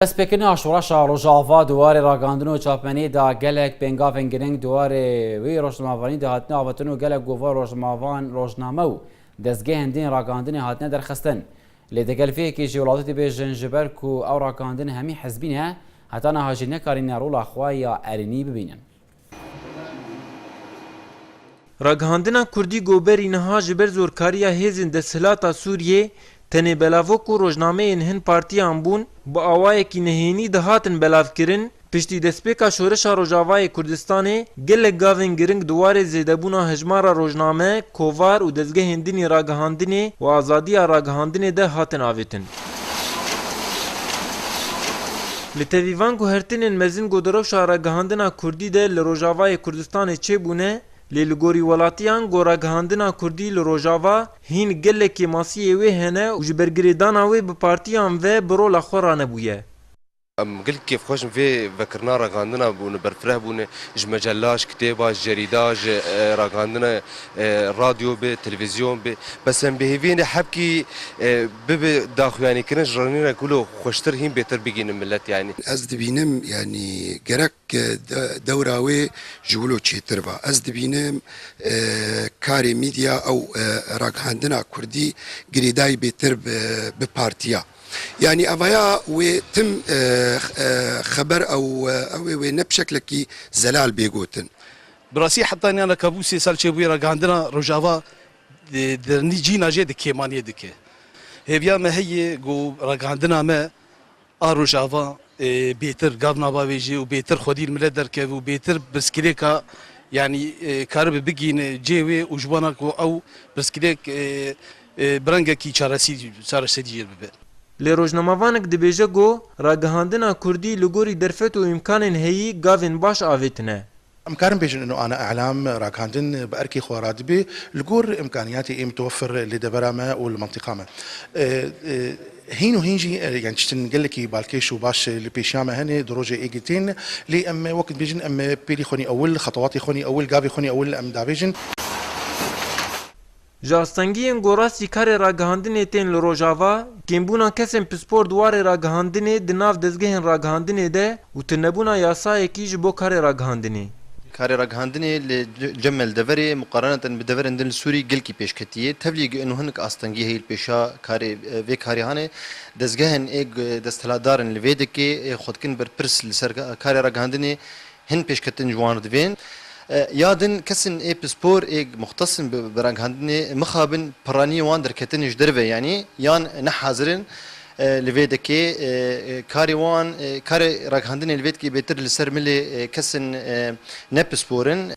Destpêkirina şoreşa Rojava di warê ragandin û çapmeniyê de gelek pêngavên girîng di warê wî rojnamevanî de hatine avêtin û gelek gova rojnamevan, rojname û dezgehên din ragandinê hatine derxistin. Lê di gel vê yekê jî welatî dibêjin ji ber ku ew ragandin hemî hizbî ne, heta niha jî nekarîne rola xwe ya erênî bibînin. Ragihandina Kurdî Goberî niha ji ber zorkariya hêzên desthilata Sûriyê tenê belavo ku rojnameyên hin partiyan bûn bi awayekî nehênî dihatin belavkirin, piştî destpêka Şoreşa Rojavayê Kurdistanê gelek gavên giring di warê zêdebûna hejmara rojname, kovar û dezgehên din ê ragihandinê û azadiya ragihandinê de hatin avêtin. Li tevîvan ku hertinên mezin ku di rewşa ragihandina kurdî de li Rojavayê Kurdistanê çêbûne, lê li gorî welatiyan ku ragihandina kurdî li Rojava hîn gelekî masiyê wê hene û ji ber girêdana wê bi partiyan ve bi rola xwe ranebûye. Em gelek kêfxweş in vê vekirina ragihandina bûne, berfireh bûne. Ji mecella, ji kitêba, ji cerîda, ji ragihandina radyo be, televîzyon be. Bes em bêhêvîyêne hebkî bibe daxuyanîkirin ji rengîna ku lo xweştir hîn bêtir bigihînin milet yanî. Ez dibînim yanî gerek dewra wê ji wilo çêtir ba. Ez dibînim karê mîdya ew ragihandina kurdî girêdayî bêtir bi partiya. Yanî evaya wê tim xeber ew ew ê wê ne bi şeklekî zelal bê gotin. Bi rastî heta niyan re kabûl sê sal çêbûye ragihandina Rojava dernî cîna jê di kêmaniyê dike. Hêviya me heye ku ragihandina me a Rojava bêtir gav nava wê jê û bêtir xwedî li milet derkeve û bêtir pirsgirêka yanî karibe bigihîne cê wê û ji wana ku ew pirsgirêk Bi rengekî çareserî jê bibe. Lê rojnamevanek dibêje ku ragihandina kurdî li gorî derfet û îmkanên heyî gavên baş avêtine. Em karin bêjin ino ana elam, ragihandin bi erkê xwe radibe li gor îmkanîyatê ê mitewefir li devera me û li mentiqa me. Hîn û hîn jî yan tiştin gelekî balkêş û baş li pêşiya me hene di rojê ê girtên lê em wek dibêjin em pêlî xwenî ewil, xetewatê xwenî ewil, gavê xwenî ewil em dabêjin. Ji astengiyên ku rastî karê ragihandinê tên li Rojava, kêmbûna kesên pispor di warê ragihandinê di nav dezgehên ragihandinê de û tunebûna yasayekî ji bo karê ragihandinê. Karê ragihandinê li cem me li deverê muqareneten bi deverên din li Sûrî gelkî pêşketiyê. Tevlî gi'nu hinek astengî heye li pêşa karê vê karê hane dezgehên ê ku desthilatdar in li vê dikê ê xwe dikin berpirs li ser karê ragihandinê Hin pêşketin ji wan re divên. Ya din kesên ê pispor ê muxtesn bi ragihandinê mixabin piraniyên wan derketinê ji derve yanî yan nehazir in li vê dekê karê wan karê ragihandinê li vê dekê bêtir li ser milê kesên ne pispor in.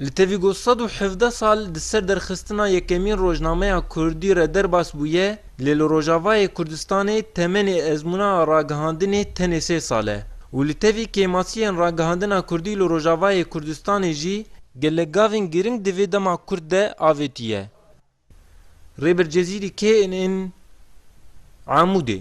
Li tevî got sed û hevdeh sal di ser derxistina yekemîn rojnameya kurdî re derbas bûye, Lê li Rojavayê Kurdistanê temenê ezmûna ragihandinê tenê sê sal e û li tevî kêmasiyên ragihandina Kurdî li Rojavayê Kurdistanê jî gelek gavên giring di vê dema kurt de avêtiye. Rêber Cezîrî kê in in Amûdê?